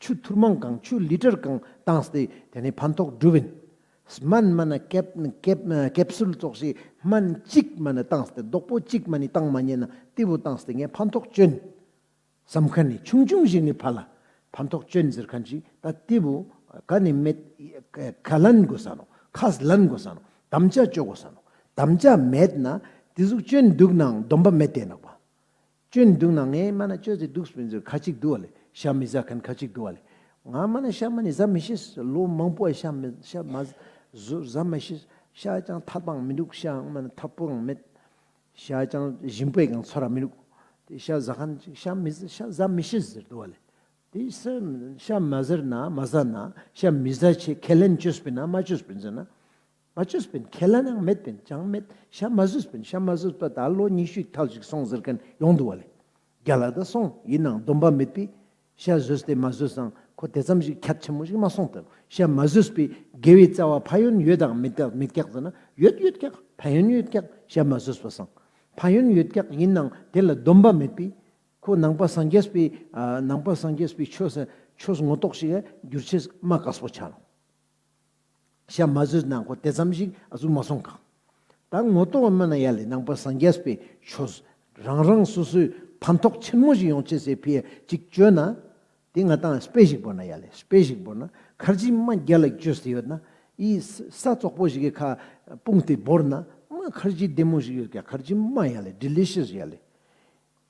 ཆུ་ཐུར་མང་གང་ཆུ་ལི་ཏར་གང་བཏང་སྟེ་དེ་ནས་ཕན་ཐོགས་སྒྲུབ་བིན། སྨན་མ་ན་ཀེབ་སུལ་བཙོག་བྱའི་སྨན་གཅིག་མ་ནི་བཏང་སྟེ་རྡོག་པོ་གཅིག་མ་ནི་བཏང་མ་རྙེད་ན་ཏི་བུ་བཏང་སྟེ་ངས་ཕན་ཐོགས་སྤྱོན། སམ་ཁ་ནི་ཆུང་ཆུང་ཞིག་ནི་ཕ་ལ་ཕན་ཐོགས་སྤྱོན་ཟེར་ཁ་ཅིག་ད་ཏི་བུ་ཁ་ནི་མེད་ཁ་ལན་དགོས་ས་ནོ་ཁས་ལན་དགོས་ས་ནོ་དམ་བཅའ་བཅོ་དགོས་ས་ནོ་དམ་བཅའ་མེད་ན་ཏི་གཟུགས་སྤྱོན་འདུག་ནའང་སྡོམ་པ་མེད་དེ་ནག་པ། བཅོས་ནི་འདུག་ན་ངས་སྨྲ་ན་བཅོས་ཟེར་འདུག་སྤུན་ཟེར་ཁ་ཅིག་འདུག་བ་ལས་ཤ་མི་ཟ་མཁན་ཁ་ཅིག་འདུག་བ་ལས། ང་སྨྲ་ན་ཤ་མ་ནི་ཟ་མི་ཤེས། ལོ་མང་པོ་བ་ཤ་མི་ཤ་མ་ཟ་མ་ཤེས། ཤ་ཅང་ཐ་པའང་མི་འདུག་ཤ་སྨྲ་ན་ཐ་པོའང་མེད། ཤ་ཅང་ཞིམ་པའི་ཀྱང་ཚོར་བ་མི་འདུག། དེ་ཤ་ཟ་མཁན་ཅིག་ཤ་མི་ཟ་ཤ་ཟ་མི་ཤེས་ཟེར་འདུག་བ་ལས། དེ་ཤ་མ་ཟེར་ན་མ་ཟ་ན་ཤ་མི་ཟ་ཆེད་ཁས་ལེན་བཅོས་སྤུན་ན་མ་བཅོས་སྤུན་ཟེར་ན། མ་བཅོས་པའི་ཁས་ལེན་ཡང་མེད་པས་ཅང་མེད་ཞྭ་མ་བཟོས་པས་ཤྭ་མ་བཟོས་པ་ད་ལོ་ཉི་ཤུའི་ཐག་ཅིག་སོང་ཟེར་མཁན་ཡོང་འདུག་བ་ལས། རྒྱ་ལ་ད་སོང་ཡིན་ནང་སྡོམ་པ་མེད་པས། ཤྭ་བཟོས་ཏེ་མ་བཟོས་སང་ཁོ་དེ་ཙམ་ཞིག་ཁྱད་ཆེན་མོ་ཞིག་མ་སོང་སྟབས་ཤྭ་མ་བཟོས་པས་དགེ་བའི་རྩ་བ་ཕ་ཡོན་ཡོད་དང་མེད་མེད་སྐྱག་ཟེར་ན་ཡོད་ཡོད་སྐྱག་ཕ་ཡོན་ཡོད་སྐྱག་ཤྭ་མ་བཟོས་པ་སང་ཕ་ཡོན་ཡོད་སྐྱག་ཡིན་ནང་དེ་ལ་སྡོམ་པ་མེད་པས། ཁོ་ནང་པ་སངས་རྒྱས་པས་ནང་པ་སངས་རྒྱས་པས་ཆོས་ཆོས་ངོ་རྟོགས་ཤིག་ཨ་བསྒྱུར་ཆེས་མ་དགའ་སོགས་བྱ་རུང། ཞག་མ་ཟོས་ན་གོ་དེ་ཙམ་ཞིག་ཨ་ཙུག་མ་སོང་ག། ད་ངོ་གཏོགས་བ་སྨོན་ན་ཡ་ལེ་ནང་པ་སངས་རྒྱས་པའི་ཆོས་རང་རང་སོ་སོའི་ཕན་ཐོགས་ཆེན་མོ་ཞིག་ཡོང་ཆེད་སེ་ཕི་ཡ་ཅིག་བཅོས་ན། དེ་ང་ཏང་སྤེ་ཞིག་བོར་ན་ཡ་ལེ་སྤེ་ཞིག་བོར་ན་ཁར་ཅིག་དམའ་རྒྱ་ལ་བཅོས་སེ་ཡོད་ན་ཡི་ས་ཙོག་པོ་ཞིག་གི་ཁ་སྤུངས་དེ་བོར་ན་དམའ་ཁར་ཅིག་བདེ་མོ་ཞིག་ཡོད་ག་ཁར་ཅིག་དམའ་ཡ་ལེ Delicious ཡ་ལེ།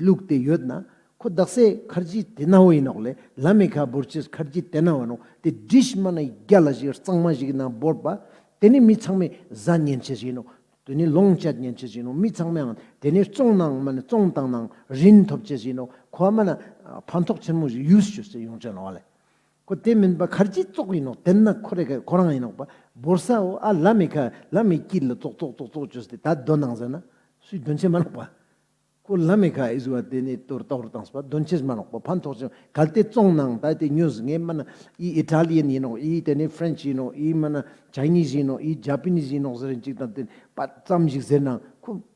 ལུགས་དེ་ཡོད་ན། ཁོ་བདག་སའི་མཁར་རྗེ་དེ་ནའོ་ཡིན་ནོག་ལེ་ལ་མི་ཁ་བོར་ཆེས་མཁར་རྗེ་དེ་ནའོ་ནོག་དེ་དྲི་ཞིམ་མ་ན་རྒྱ་ལ་ཞིག་གཙང་མ་ཞིག་གི་ནང་བོར་པ། དེ་ནི་མི་ཚང་མས་བཟའ་ཉན་བྱེད་ཅིག་ཡིན་ནོག་དེ་ནི་ལོངས་སྤྱད་ཉན་བྱེད་ཅིག་ཡིན་ནོག་མི་ཚང་མའང་དེ་ནི་བཙོང་ནའང་མ་ནི་བཙོང་དང་ནའང་རིན་ཐོབ་བྱེད་ཅིག་ཡིན་ནོག་ཁོ་བ་མ་ན་ཕ་མཐོག་ཆེན་མོ་ཞིག་ཡུལ་ཞུ་སའི་ཡོང་བྱེད་ནོག་ལེ་ཁོ་དེ་མིན་པ་གར་གྱིས་བཙོག་ཡིན་ནོག་དེ་ན་ཁོ་རེ་ཁ་ཁོ་རང་ཡིན་ནོག་པ་འབོར་ས་འོ་ཨ་ལ་མི་ཁ་ལ་མི་སྐྱིད་ལ་བཙོག་བཙོག་བཙོག་བཙོག་བྱོས་ཏེ་ད་གདོན་ནང་ཟེར་ན་སུས་གདོན་བྱེད་མ་ནོག་པ། ཁོ་ལ་མི་ཁ་ཨིས་བ་དེ་ནས་དོར་ཏོག་རུ་བཏང་སོ་པ་གདོན་བྱེད་མ་ནོག་པ་ཕན་ཐོགས་ཅིང་གལ་ཏེ་བཙོང་ནའང་ད་དེ་ཉོས་ངས་མིན་ན་ཨིས་ཨི་ཏྲ་ལི་ཡན་ཡིན་ནོག་ཨིས་དེ་ནས་ཧྥི་རན་ཆི་ཡིན་ནོག་ཨིས་མིན་ན་ཇཱི་ནི་ཟི་ཡིན་ནོག་ཨིས་ཇཱ་པི་ནི་ཟི་ཡིན་ནོག་ཟེར་རན་ཅིག་དང་དེ་ནས་པ་ཙམ་ཞིག་ཟེར་ནའང་ཁོ།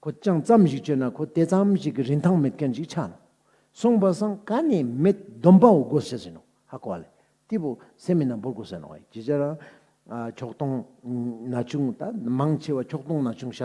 ཁོ་ཅང་ཙམ་ཞིག་བྱོས་ན་ཁོ་དེ་ཙམ་ཞིག་གི་རིན་ཐང་མེད་མཁན་ཞིག་ཆགས་ནོ། སོང་བ་སང་ག་ནས་མེད་སྡོམ་པའོ་དགོ་ཟེར་ཟིན་ནོ། ཧ་གོ་བ་ལས་ཏི་བུ་སེ་མི་ན་འབུར་གོ་ཟེར་ནོ། ཇི་ཆ་རང། ཁྱོག་སྟོང། ན་ཆུང། ད་མང་ཆེ་བ་ཁྱོག་སྟོང་ན་ཆུང་ཤ་ཏོག།